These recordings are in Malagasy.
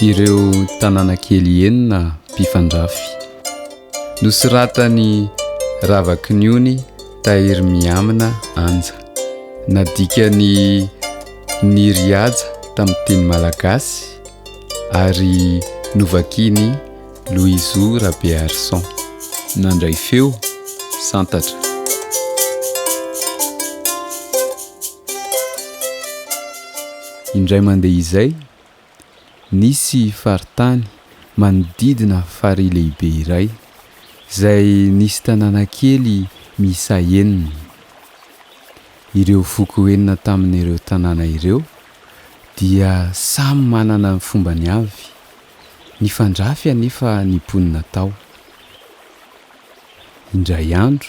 Ireo tanàna kely enina mpifandrafy. Nosoratan'i Ravakiniony Tahirimiamina Anja. Nadikan'i Niry Haja tamin'ny teny malagasy ary novakian'i Loizo Rabearison. Nandray feo, Santatra. Indray mandeha izay, nisy faritany manodidina farihy lehibe iray, izay nisy tanàna kely miisa enina. Ireo foko enina tamin'ireo tanàna ireo dia samy manana ny fombany avy. Nifandrafy anefa ny mponina tao. Indray andro,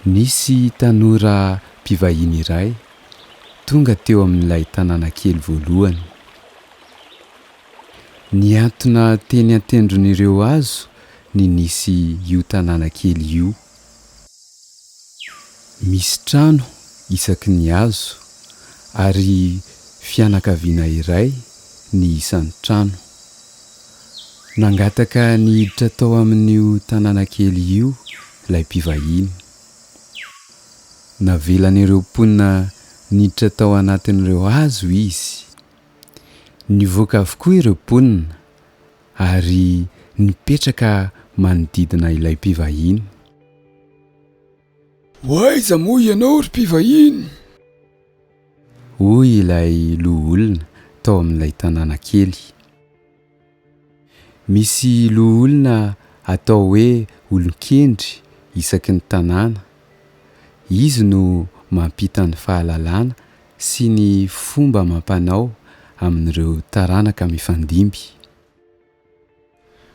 nisy tanora mpivahiny iray tonga teo amin'ilay tanàna kely voalohany. Nihantona teny an-tendron'ireo hazo ny nisy io tanàna kely io. Misy trano isaky ny hazo, ary fianakaviana iray ny isan'ny trano. Nangataka ny hiditra tao amin'io tanàna kely io ilay mpivahiny. Navelan'ireo mponina niditra tao anatin'ireo hazo izy. Nivoaka avokoa ireo mponina ary nipetraka manodidina ilay mpivahiny. Ho aiza moa ianao ry mpivahiny? Hoy ilay loholona tao amin'ilay tanàna kely. Misy loholona atao hoe olon-kendry isaky ny tanàna. Izy no mampita ny fahalalana sy ny fomba amam-panao amin'ireo taranaka mifandimby.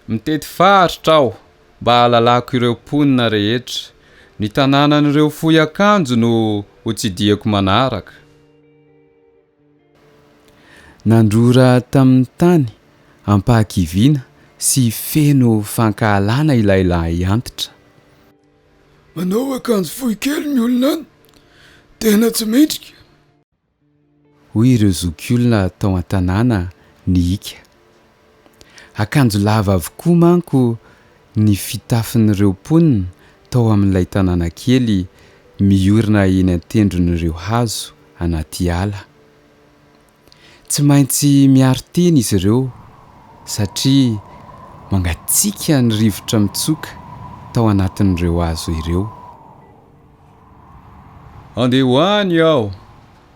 Mitety faritra aho mba hahalalako ireo mponina rehetra. Ny tanànan'ireo fohy akanjo no hotsidihiko manaraka. Nandrora tamin'ny tany ampahakiviana sy feno fankahalana ilay lahiantitra. Manao akanjo fohy kely ny olona any, tena tsy mendrika. Hoy ireo zokiolona tao an-tanàna nihiaka. Akanjo lava avokoa manko ny fitafin'ireo mponina tao amin'ilay tanàna kely miorina eny an-tendron'ireo hazo anaty ala. Tsy maintsy miaro tena izy ireo satria mangatsiaka ny rivotra mitsoka tao anatin'ireo hazo ireo. Andeha ho any aho,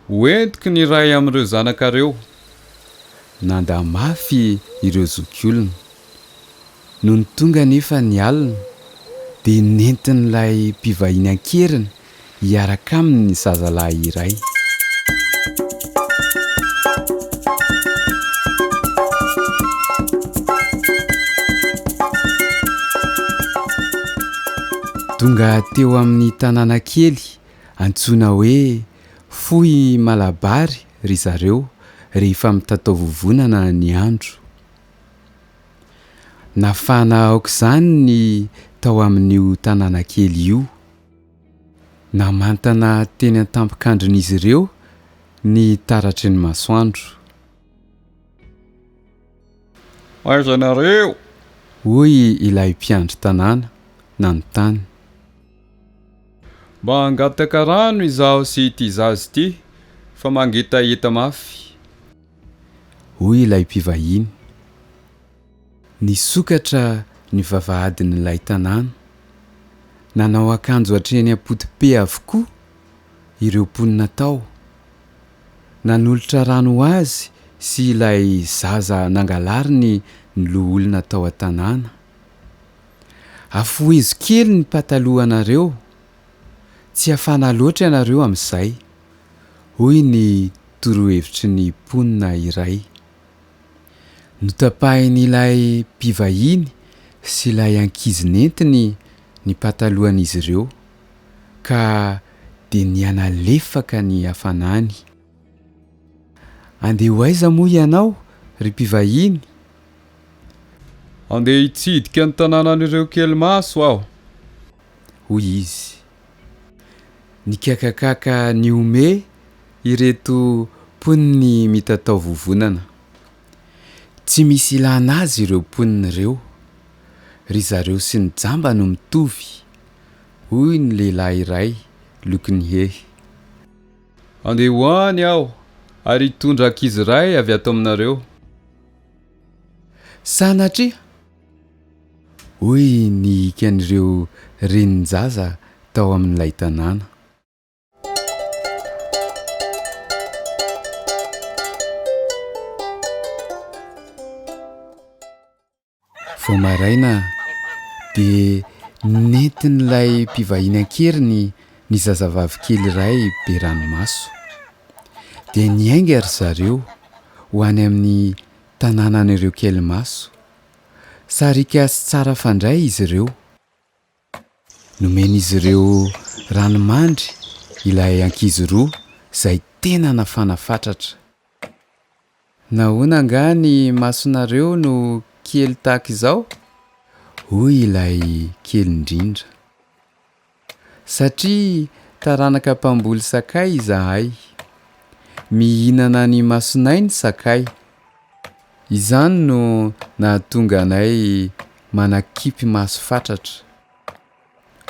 ho entiko ny iray amin'ireo zanakareo. Nandà mafy ireo zokiolona. Nony tonga anefa ny alina, dia nentin'ilay mpivahiny an-keriny hiaraka aminy ny zazalahy iray. Tonga teo amin'ny tanàna kely antsoina hoe Fohy Malabary ry zareo rehefa mitatao vovonana ny andro. Nafana aok'izany ny tao amin'io tanàna kely io. Namantana teny an-tampon-kandrin'izy ireo ny taratry ny masoandro. Aiza ianareo? Hoy ilay mpiandry tanàna, nanontany. Mba hangataka rano izaho sy ity zaza ity fa mangetaheta mafy. Hoy ilay mpivahiny. Nisokatra ny vavahadin'ilay tanàna. Nanao akanjo hatreny am-potope avokoa ireo mponina tao. Nanolotra rano ho azy sy ilay zaza nangalariny ny loholona tao an-tanàna. Afohezo kely ny patalohanareo. Tsy hafana loatra ianareo amin'izay, hoy ny torohevitry ny mponina iray. Notapahin'ilay mpivahiny sy ilay ankizy nentiny ny patalohan'izy ireo, ka dia nihanalefaka ny hafanany. Andeha ho aiza moa ianao, ry mpivahiny? Andeha hitsidika ny tanànan'ireo kelimaso aho, hoy izy. Nikakakaka nihomehy ireto mponiny mitatao vovonana. Tsy misy ilana azy ireo mponina ireo. Ry zareo sy ny jamba no mitovy, hoy ny lehilahy iray lokin'ny hehy. Handeha ho any aho ary hitondra ankizy iray avy ato aminareo. Sanatria! Hoy ny ikan'ireo renin-jaza tao amin'ilay tanàna. Vao maraina dia nentin'ilay mpivahiny an-keriny ny zazavavy kely iray be ranomaso. Dia niainga ry zareo ho any amin'ny Tanànan'ireo kely maso. Sariaka sy tsara fandray izy ireo. Nomen'izy ireo rano mandry ilay ankizy roa izay tena nafana fatratra. Nahoana angaha ny masonareo no kely tahaka izao? hoy ilay kely indrindra. Satria taranaka mpamboly sakay izahay. Mihinana ny masonay ny sakay. Izany no nahatonga anay manakipy maso fatratra,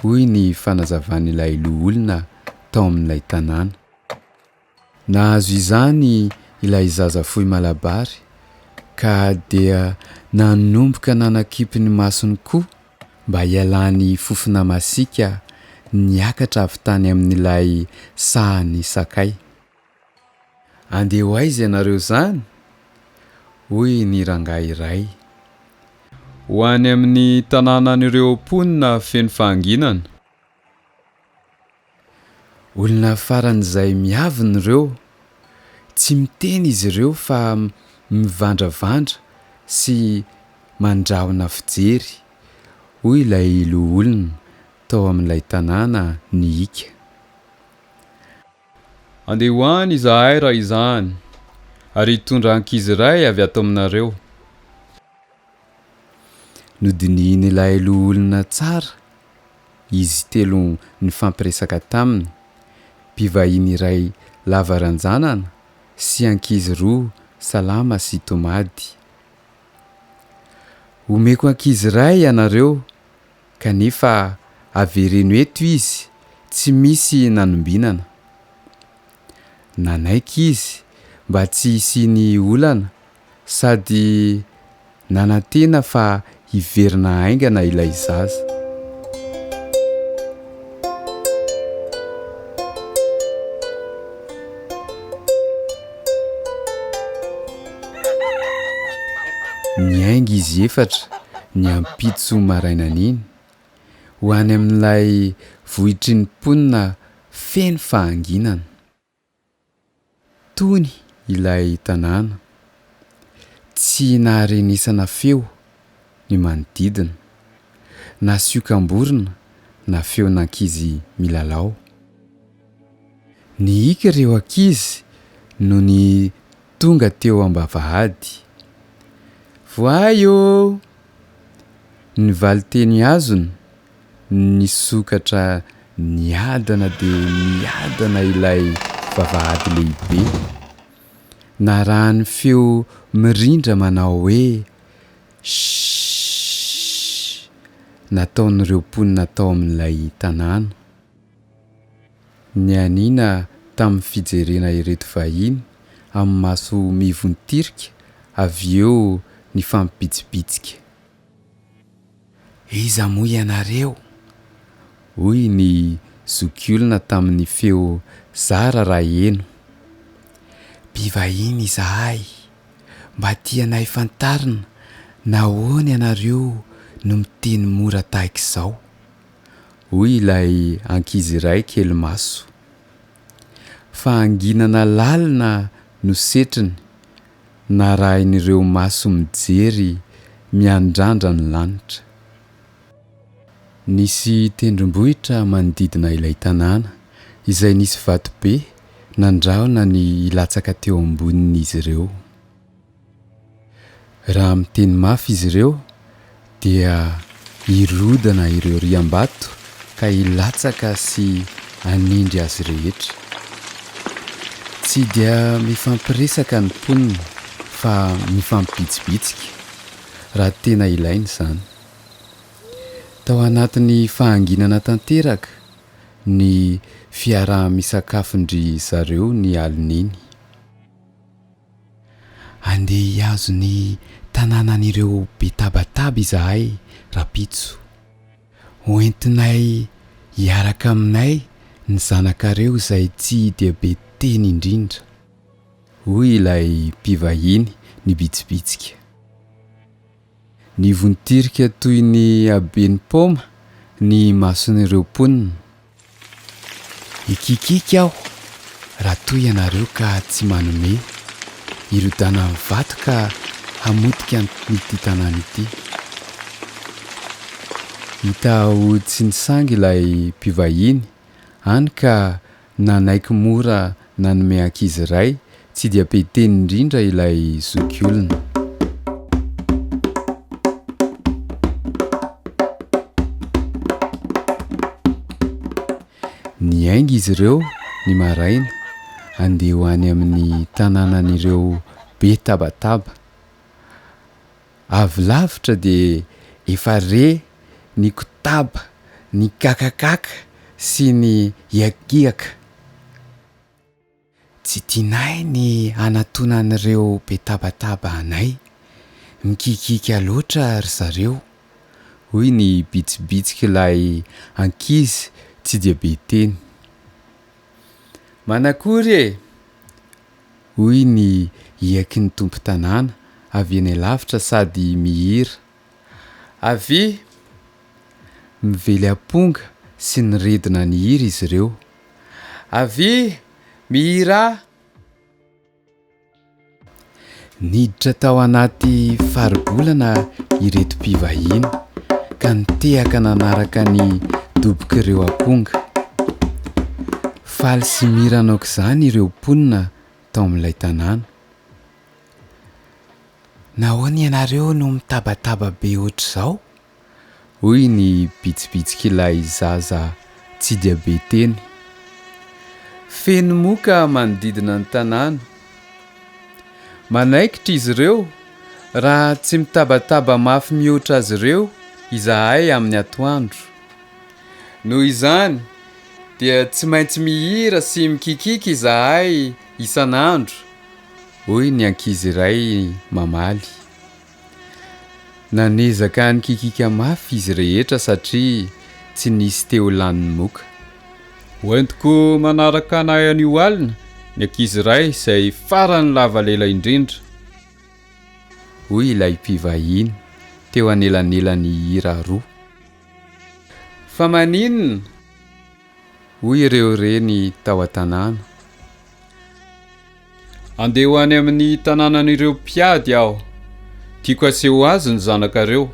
hoy ny fanazavan'ilay loholona tao amin'ilay tanàna. Nahazo izany ilay zaza fohy malabary ka dia nanomboka nanakipy ny masony koa mba hialany fofona masiaka niakatra avy tany amin'ilay sahan'ny sakay. Andeha ho aiza ianareo izany? hoy ny rangahy iray. Ho any amin'ny tanànan'ireo mponina feno fahanginana. Olona faran'izay miavona ireo. Tsy miteny izy ireo fa mivandravandra sy mandrahona fijery, hoy ilay loholona tao amin'ilay tanàna nihiaka. Andeha ho any izahay raha izany, ary hitondra ankizy iray avy ato aminareo. Nodinihin'ilay loholona tsara izy telo nifampiresaka taminy, mpivahiny iray lava ranjanana sy ankizy roa salama sy tomady. Omeko ankizy iray ianareo, kanefa avereno eto izy tsy misy nanombinana. Nanaiky izy mba tsy hisian'ny olana Sady nanantena fa hiverina haingana ilay zaza. Niainga izy efatra ny ampitso marainan'iny, ho any amin'ilay vohitry ny mponina feno fahanginana. Tony ilay tanàna. Tsy naharenesana feo ny manodidina, na siokamborona na feon'ankizy milalao. Nihiaka ireo ankizy nony tonga teo am-bavahady. Voay ô! ny valin-teny azony. Nisokatra niadana dia niadana ilay vavahady lehibe. Narahan'ny feo mirindra manao hoe Shhh! nataon'ireo mponina tao amin'ilay tanàna. Nianiana tamin'ny fijerena ireto vahiny amin'ny maso mivontirika avy eo nifampibitsibitsika. Iza moa ianareo? hoy ny zokiolona tamin'ny feo zara raha heno. Mpivahiny izahay. Mba tianay fantarina nahoana ianareo no miteny mora tahaka izao? hoy ilay ankizy iray kely maso. Fahanginana lalina no setriny Narahin'ireo maso mijery miandrandra ny lanitra. Nisy tendrombohitra manodidina ilay tanàna, izay nisy vatobe nandrahona ny hilatsaka teo ambonin'izy ireo. Raha miteny mafy izy ireo, Dia hirodana ireo riam-bato ka hilatsaka sy hanindry azy rehetra. Tsy dia mifampiresaka ny mponina fa mifampibitsibitsika, raha tena ilaina izany. Tao anatin'ny fahanginana tanteraka ny fiaraha-misakafon-dry zareo ny alin'iny. Andeha hihazo ny tanànan'ireo be tabataba izahay rapitso. Hoentinay hiaraka aminay ny zanakareo izay tsy dia be teny indrindra, hoy ilay mpivahiny nibitsibitsika. Nivontirika toy ny haben'ny paoma ny mason'ireo mponina. Hikiakiaka aho raha toa ianareo ka tsy manome. Hirodana amin'ny vato ka hamotika an'ity tanàna ity. Hita ho tsy nisangy ilay mpivahiny, hany ka Nanaiky mora nanome ankizy iray tsy dia be teny indrindra ilay zokiolona. Niainga izy ireo ny maraina handeha ho any amin'ny tanànan'ireo be tabataba. Avy lavitra dia efa re ny kotaba, ny kakakaka sy ny hiakiaka. Tsy tianay ny hanatona an'ireo be tabataba anay. Mikiakiaka loatra ry zareo, hoy ny bitsibitsik'ilay ankizy tsy dia be teny. Manakory e! Hoy ny hiaky ny tompon-tanàna avy eny alavitra sady mihira. Avia! Mively amponga sy ny redona ny hira izy ireo. Avia! Mihirà! Niditra tao anaty faribolana ireto mpivahiny ka nitehaka nanaraka ny dobok'ireo aponga. Faly sy mirana aok'izany ireo mponina tao amin'ilay tanàna. Nahoana ianareo no mitabataba be hoatr'izao? hoy ny bitsibitsik'ilay zaza tsy dia be teny. Feno moka manodidina ny tanàna. Manaikitra izy ireo raha tsy mitabataba mafy mihoatra azy ireo izahay amin'ny atoandro. Noho izany dia tsy maintsy mihira sy mikikiaka izahay isan'andro, hoy ny ankizy iray mamaly. Nanezaka nikikika mafy izy rehetra satria tsy nisy te ho lanin'ny moka. Hoentiko manaraka anay anio alina ny ankizy iray izay farany lava lela indrindra, hoy ilay mpivahiny teo anelanelan'ny hira roa. Fa maninona? hoy ireo reny tao an-tanàna. Andeha ho any amin'ny tanànan'ireo mpiady aho. Tiako haseho azy ny zanakareo.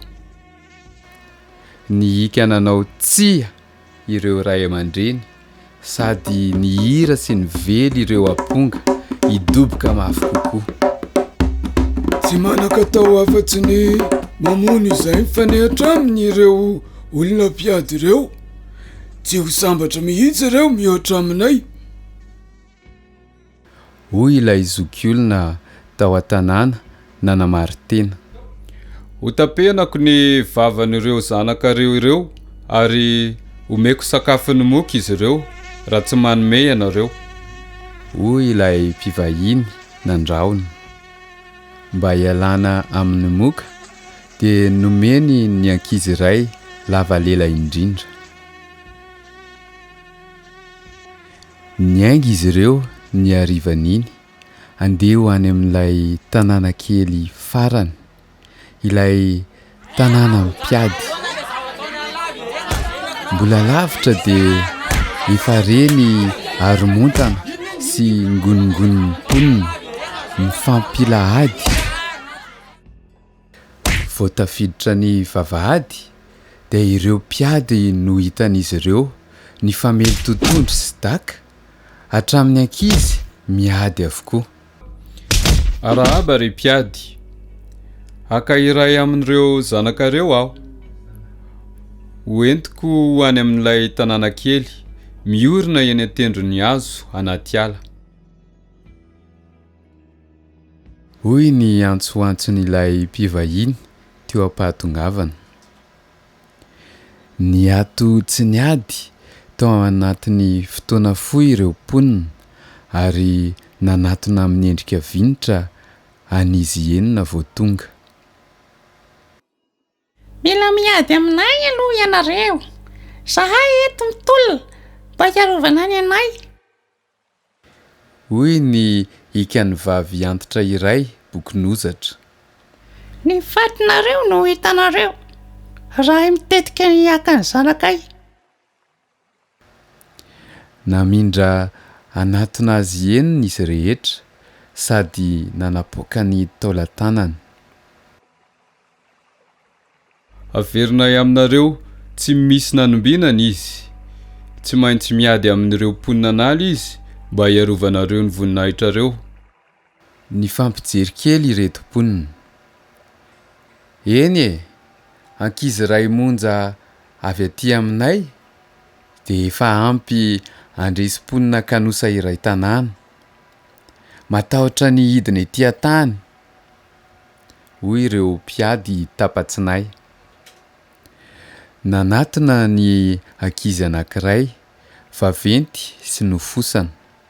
Nihiaka nanao tsia ireo ray aman-dreny sady nihira sy nively ireo aponga hidoboka mafy kokoa. Tsy manan-katao afa-tsy ny mamono izay mifanehatra aminy ireo olona mpiady ireo. Tsy ho sambatra mihitsy ireo mihoatra aminay. Hoy ilay zokiolona tao an-tanàna nanamari-tena. Hotapenako ny vavan'ireo zanakareo ireo ary homeko sakafon'ny moka izy ireo raha tsy manome ianareo. Hoy ilay mpivahiny nandrahona. Mba hialana amin'ny moka dia nomeny ny ankizy iray lava lela indrindra. Niainga izy ireo ny harivan'iny handeha ho any amin'ilay tanàna kely farany, ilay tanàna mpiady. Mbola lavitra dia efa re ny haromontana sy ngonongonon'ny mponina mifampilahady. Vao tafiditra ny vavahady dia ireo mpiady no hitan'izy ireo nifamely totohondry sy daka, hatramin'ny ankizy miady avokoa. Arahaba ry mpiady, haka iray amin'ireo zanakareo aho, hoentiko ho any amin'ilay tanàna kely miorina eny an-tendron'ny hazo anaty ala. Hoy ny antsoantson'ilay mpivahiny teo am-pahatongavana. Niato tsy niady tao anatin'ny fotoana fohy ireo mponina ary nanatona amin'ny endrika vinitra an'izy enina vao tonga. Mila miady aminay aloha ianareo. Zahay eto mitolona mba hiarovana ny anay. Hoy ny ikan'ny vavy antitra iray, Bokin'ozatra. Ny fatinareo no hitanareo raha hay mitetika ny hiakan'ny zanakay. Namindra hanatona azy henony izy rehetra sady nanapoaka ny taolan-tanany. Averinay aminareo tsy misy nanombinana izy. Tsy maintsy miady amin'ireo mponina an'ala izy mba hiarovanareo ny voninahitrareo. Nifampijery kely ireto mponina. Eny e! ankizy iray monja avy aty aminay dia efa ampy handresy mponina kanosa iray tanàna. Matahotra ny hidina ety an-tany, hoy ireo mpiady tapa-tsinay. Nanatona ny ankizy anankiray, vaventy sy nofosana.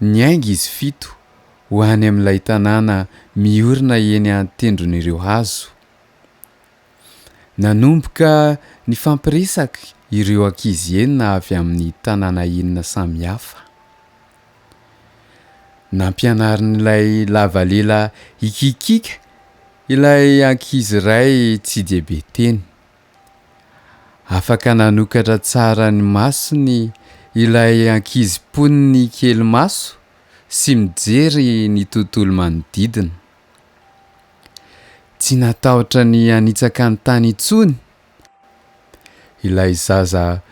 Niainga izy fito ho any amin'ilay tanàna miorina eny an-tendron'ireo hazo. Nanomboka nifampiresaka ireo ankizy enina avy amin'ny tanàna enina samihafa. Nampianarin'ilay lavalela hikikiaka ilay ankizy iray tsy dia be teny. Afaka nanokatra tsara ny masony ilay ankizy mponiny kely maso sy mijery ny tontolo manodidina. Tsy natahotra ny hanitsaka ny tany intsony ilay zaza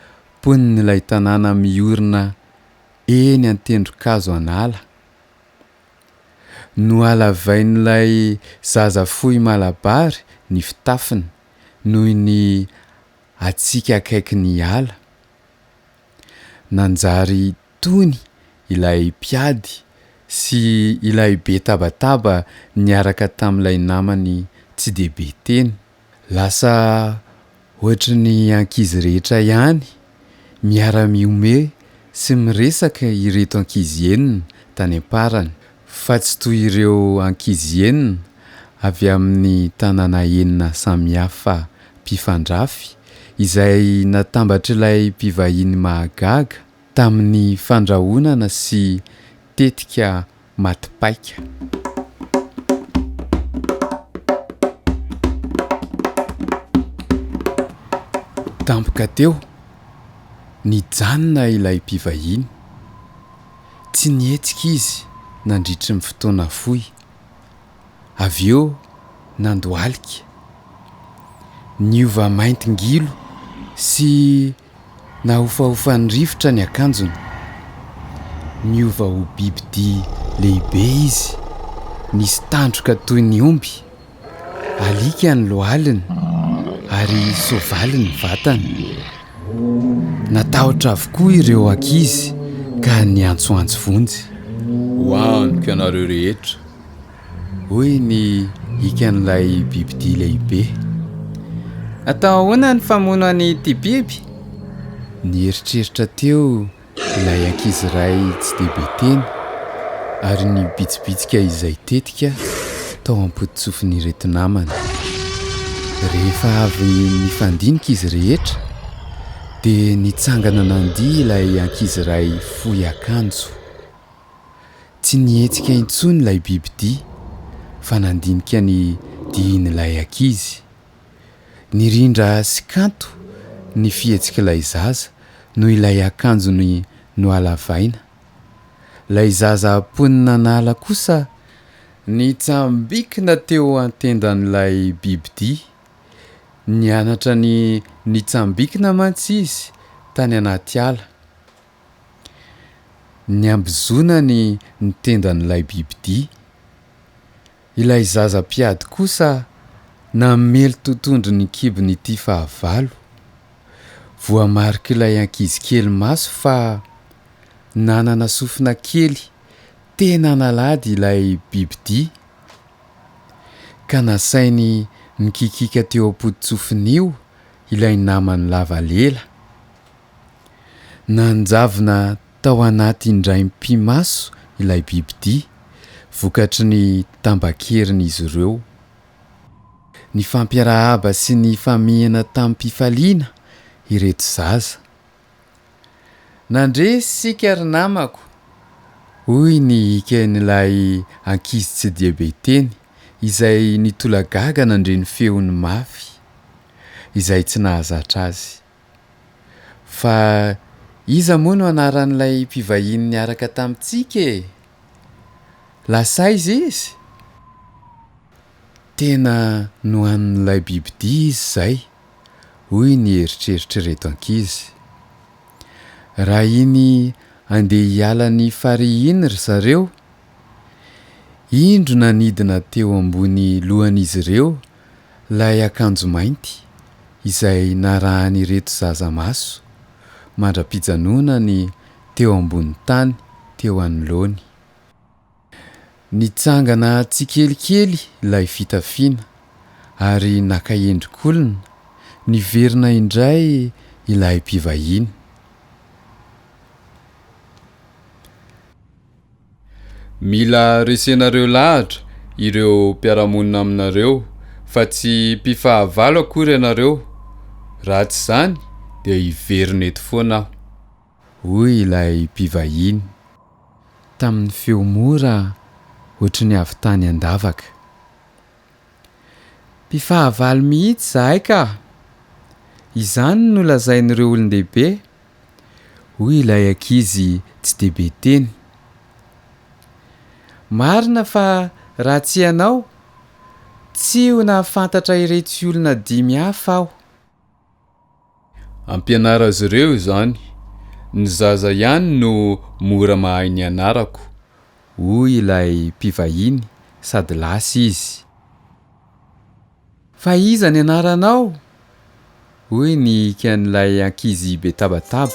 mponin'ilay tanàna miorina eny an-tendron-kazo an'ala. Nohalavain'ilay zaza fohy malabary ny fitafiny. noho ny hatsiaka akaiky ny ala. Nanjary tony ilay mpiady sy ilay be tabataba niaraka tamin'ilay namany tsy dia be teny. Lasa hoatry ny ankizy rehetra ihany Miara-mihomehy sy miresaka ireto ankizy enina tany am-parany, fa tsy toy ireo ankizy enina avy amin'ny tanàna enina samihafa mpifandrafy izay natambatr'ilay mpivahiny mahagaga tamin'ny fandrahonana sy tetika Maty paika. Tampoka teo, nijanona ilay mpivahiny. Tsy nihetsika izy nandritry ny fotoana fohy. Avy eo nandohalika. Niova mainty ngilo sy Nahofahofan'ny rivotra ny akanjony. Niova ho bibidia lehibe izy, nisy tandroka toy ny omby. Alika ny lohaliny, ary soavaly ny vatany. Natahotra avokoa ireo ankizy ka niantsoantso vonjy. Ho amiko ianareo rehetra! hoy ny ikan'ilay bibidia lehibe. Atao ahoana ny famono an'ity biby? Nieritreritra teo ilay ankizy iray tsy dia be teny ary nibitsibitsika izay tetika tao am-pototsofin'ireto namany. Rehefa avy nifandinika izy rehetra dia nitsangana nandihy ilay ankizy iray fohy akanjo. Tsy nihetsika intsony ilay bibidia fa nandinika ny dihin'ilay ankizy. Nirindra sy kanto ny fihetsik'ilay zaza noho ilay akanjony nohalavaina. Ilay zaza mponina an'ala kosa nitsambikina teo an-tendan'ilay bibidia. Nianatra ny nitsambikina mantsy izy tany anaty ala. Niambozonany ny tendan'ilay bibidia. Ilay zaza mpiady kosa namely totohondry ny kibon'ity fahavalo. Voamarik'ilay ankizy kely maso fa nanana sofina kely tena nalady ilay bibidia, ka nasainy nikikiaka teo am-pototsofiny io ilay namany lava lela. Nanjavona tao anaty indraim-pimaso ilay bibidia, vokatry ny tambakerin'izy ireo. Nifampiarahaba sy nifamihina tamim-pifaliana ireto zaza. Nandre isika ry namako, hoy ny eken'ilay ankizy tsy dia be teny, izay nitolagaga nandre ny feony mafy, izay tsy nahazatra azy. Fa iza moa no anaran'ilay mpivahiny niaraka tamintsika e? Lasaiza izy? Tena nohanin'ilay bibidia izy izay, hoy ny eritreritr'ireto ankizy. Raha iny andeha hiala ny farihy iny ry zareo, indro nanidina teo ambony lohan'izy ireo Ilay akanjo mainty izay narahan'ireto zaza maso mandra-pijanonany teo ambony tany teo anoloany. Nitsangana tsikelikely ilay fitafiana ary naka endrik'olona niverina indray ilay mpivahiny. Mila resenareo lahatra ireo mpiara-monina aminareo fa tsy mpifahavalo akory ianareo, raha tsy izany dia hiverina eto foana aho. Hoy ilay mpivahiny, tamin'ny feo mora ohatry ny avy tany an-davaka. Mpifahavalo mihitsy izahay ka! Izany no lazain'ireo olon-dehibe hoy ilay ankizy tsy dia be teny. Marina fa raha tsy ianao, tsy ho nahafantatra iretsy olona dimy hafa aho. Ampianaro azy ireo izany, ny zaza ihany no mora mahay ny anarako, hoy ilay mpivahiny sady lasa izy. Fa iza ny anaranao? hoy ny ikan'ilay ankizy be tabataba.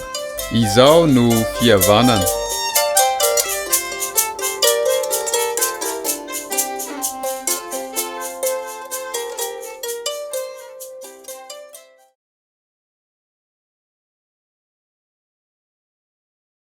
Izao no fihavanana.